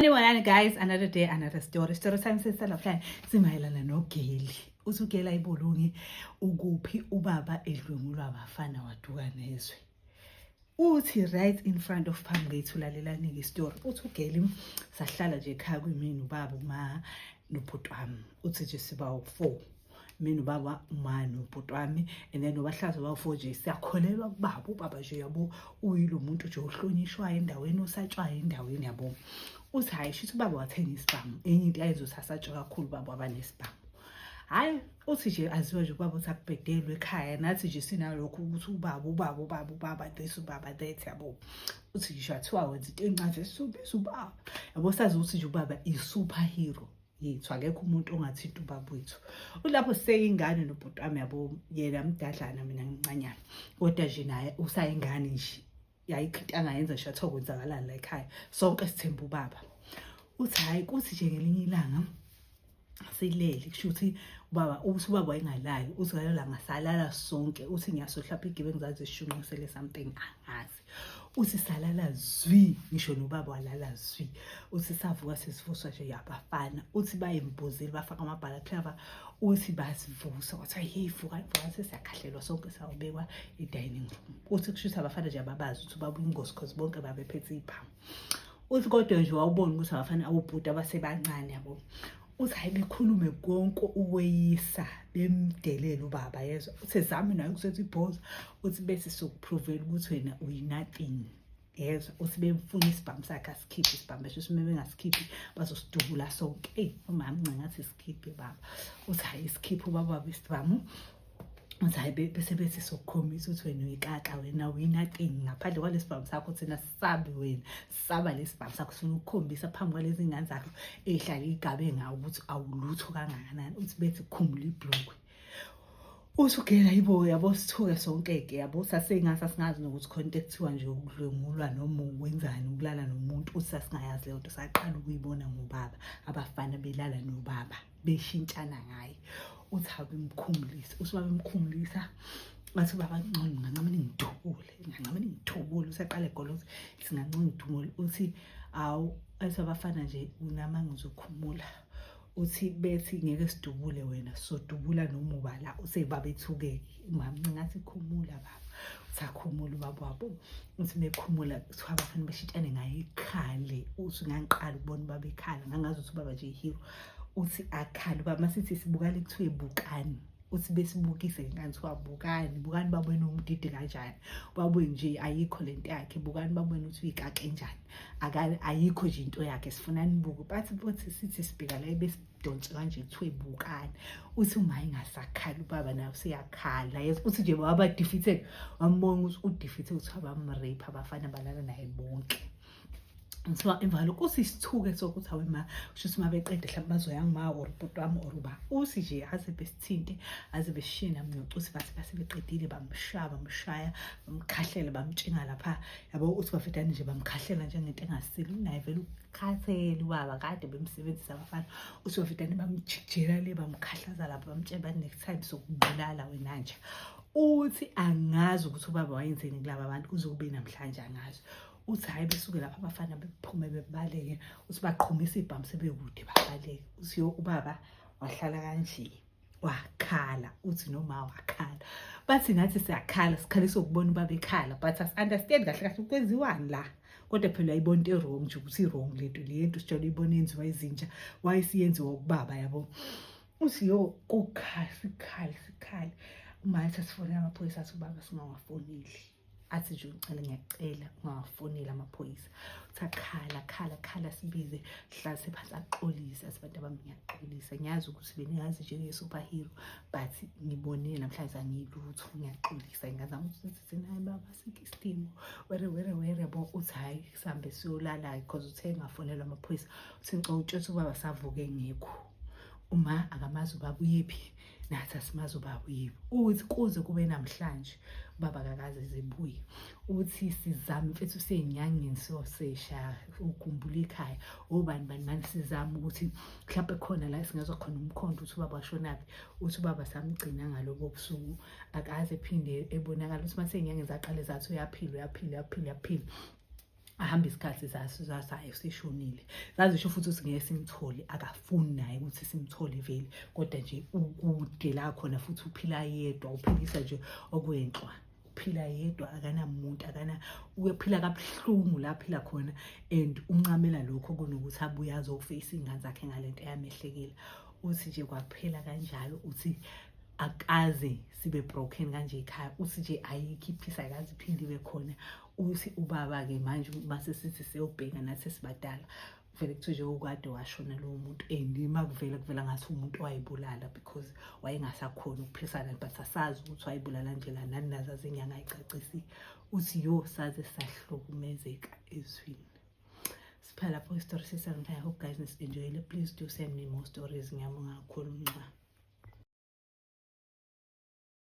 Sanibonani guys, another day, another story. Story time sesalaflani simayelana nogeli. Usugela ibulungi ukuphi ubaba edlwengulwa abafana waduka nezwe. Uthi right in front of phambi kwethu lalelani ke story. Uthi ugeli sahlala nje ekhaya kwimini ubaba uma nobhuti wami. Uthi nje siba u4. mina ubaba uma nobhuti wami and then nobahlaza bafo nje siyakholelwa kubaba ubaba nje yabo uyilo muntu nje ohlonishwayo endaweni osatshwayo endaweni yabo uthi hhayi shithi ubaba wathenga isibhamu enye into ayenza ukuthi asatshwe kakhulu ubaba wabanesibhamu hhayi uthi nje aziwa nje ubaba uthi akubhedelwe ekhaya nathi nje sinalokho ukuthi ubaba ubaba ubaba ubaba this ubaba that yabo uthi ngisho athiwa wenza into encane esubisa ubaba yabo sazi ukuthi nje ubaba i-super hero yethu akekho umuntu ongathinta ubaba wethu ulapho seyingane nobhuti wami yabo yena mdadlana mina ngincanyana kodwa nje naye usayingane nje yayikho into angayenza nje athiwa kwenzakalani la ekhaya sonke sithemba ubaba uthi hhayi kuthi nje ngelinye ilanga silele kusho ukuthi ubaba uthi ubaba wayengalali uthi ngalala ngasalala sonke uthi ngiyasohlapha igibe ngizazi sishunqisele something angazi uthi salala zwi ngisho nobaba walala zwi uthi savuka sesivuswa nje yabafana uthi bayembuzile bafaka amabhala clava uthi basivusa kwathiwa hey vuka vuka sesiyakhahlelwa sonke sawubekwa e-dining room uthi kusho ukuthi abafana nje ababazi ukuthi babuye ingozi because bonke babephethe iy'phamu uthi kodwa nje wawubona ukuthi abafana awubhuti abasebancane yabo uthi hayi bekhulume konke ukweyisa bemdelele ubaba yezwa uthi zami nayo ukusetha ibhoza uthi bese sokuphrovela ukuthi wena uyinothing yezwa uthi bemfuna isibhamu sakhe asikhiphe isibhamu besho uthi mebe ngasikhiphi bazosidubula sonke eyi umama ncangathi sikhiphe baba uthi hayi isikhiphe ubaba besibhamu uthi hayi bese bethi sokukhombisa ukuthi wena uyikaka wena uyinothing ngaphandle kwalesibhamu sakho thina sisabi wena saba lesibhamu sakho sifuna ukukhombisa phambi kwalezi ngane zakho ehlale igabe ngawo ukuthi awulutho kangakanani uthi bethi khumula ibhlokwe usugela yibo yabo sithuke sonke-ke yabo sasingasa singazi nokuthi khona into ekuthiwa nje ukudlwengulwa noma wenzani ukulala nomuntu uthi sasingayazi leyo nto saqala ukuyibona ngobaba abafana belala nobaba beshintshana ngaye uthi abemkhumulisa usuba bemkhumulisa ngathi ubaba ngcono ngancama ningidubule ngancama ningidubule usaqale goloza singancama ngidubule uthi awu athi abafana nje unama ngizokhumula uthi bethi ngeke sidubule wena sodubula noma ubala usebabethukeke Mama ngathi khumula baba. Usakhumula ubaba wabo. Uthi mekhumula kuthiwa abafana bashitshane ngaye ikhale. Uthi ngangiqala ukubona ubaba ekhala ngangazi ukuthi ubaba nje hero. Uthi akhale ubaba masithi sibukane kuthiwe bukani. uthi besibukise ngani kuthiwa bukani bukani babona umdidi kanjani babone nje ayikho le nto yakhe bukani babona ukuthi uyikake njani ayikho nje into yakhe sifuna nibuke bathi bothi sithi sibheka la donse kanje kuthiwe bukani uthi uma ingasakhala ubaba naye useyakhala yes uthi nje baba defeated wambona ukuthi udefeated ukuthi abamrape abafana balala naye bonke ngiba imvalo kusisithuke sokuthi awe ma kusho ukuthi mabeqede mhlawumbe bazoya ngima or ubhuti wami or uba usi nje aze besithinte aze besishiye nami nocuthi bathi base beqedile bamshaya bamshaya bamkhahlele bamtshinga lapha yabo uthi bafetane nje bamkhahlela njengento engasile unaye vele khathele ubaba kade bemsebenzisa abafana usovitane bamjikjela le bamkhahlaza lapho bamtshela bathi next time sokubulala wena nje uthi angazi ukuthi ubaba wayenzeni kulaba bantu kuze kube namhlanje angazi uthi hhayi besuke lapho abafana bephume bebaleke uthi baqhumisa ibhamu sebekude babaleke uthi yo ubaba wahlala kanje wakhala uthi noma wakhala bathi nathi siyakhala sikhalisa ukubona uba bekhala but asi-understand kahle kahle kwenziwani la kodwa phela ayibona into e-wrong nje ukuthi i-wrong le nto le nto sitshela uyibona yenziwa izinja wayesiyenziwa ukubaba yabo uthi yo kukhala sikhala sikhala umaye sasifone amaphoyisa athi ubaba singawafoneli athi nje ucela ngiyacela ungawafoneli amaphoyisa uthi akhala khala khala sibize hlase phansi axolise asibantu abami ngiyaxolisa ngiyazi ukuthi bengazi njenge-superhero but ngibone namhlanje angiyilutho ngiyaxolisa ngingazama ukusizise naye baba sikho isidingo were were were bo uthi hhayi sihambe siyolala-ke because uthe engafonelwa amaphoyisa uthi ngicela utshela ukuthi ubaba savuke ngekho uma akamazi ubaba uyephi nathi asimazi ubaba uyibo uthi kuze kube namhlanje ubaba kakaze zibuye uthi sizame mfethu usenyangeni siyoseshaya ukhumbula ikhaya obani bani mani sizame ukuthi mhlawumbe khona la singezwa khona umkhondo uthi ubaba washonaphi uthi ubaba samgcina ngalobo busuku akaze phinde ebonakala uthi masenyangeni zaqale zathi uyaphila uyaphila uyaphila uyaphila ahambe isikhathi zasayo sishonile zazisho futhi ukuthi ngeke simthole akafuni naye ukuthi simthole vele kodwa nje ukude la khona futhi uphila yedwa uphilisa nje okwenhlwa uphila yedwa akanamuntu akana uyophila kabuhlungu la phila khona and uncamela lokho kunokuthi abuye azofeyisa iy'ngane zakhe ngale nto eyamehlekela uthi nje kwaphela kanjalo uthi akaze sibe broken kanje ekhaya uthi nje ayikho iphisa akaze iphinde ibe khona uthi ubaba-ke manje base sithi seyobheka nathi esibadala vele kuthiwe nje ukade washona lowo muntu and uma kuvela kuvela ngathi umuntu wayibulala because wayengasakhoni ukuphilisana but asazi ukuthi wayibulala nje la nani nazo azinyanga ayicacisi uthi yo saze sahlukumezeka ezwini siphela lapho isitori sesangify hope guys nisenjoyile please do send me more stories ngiyabonga kakhulu nxa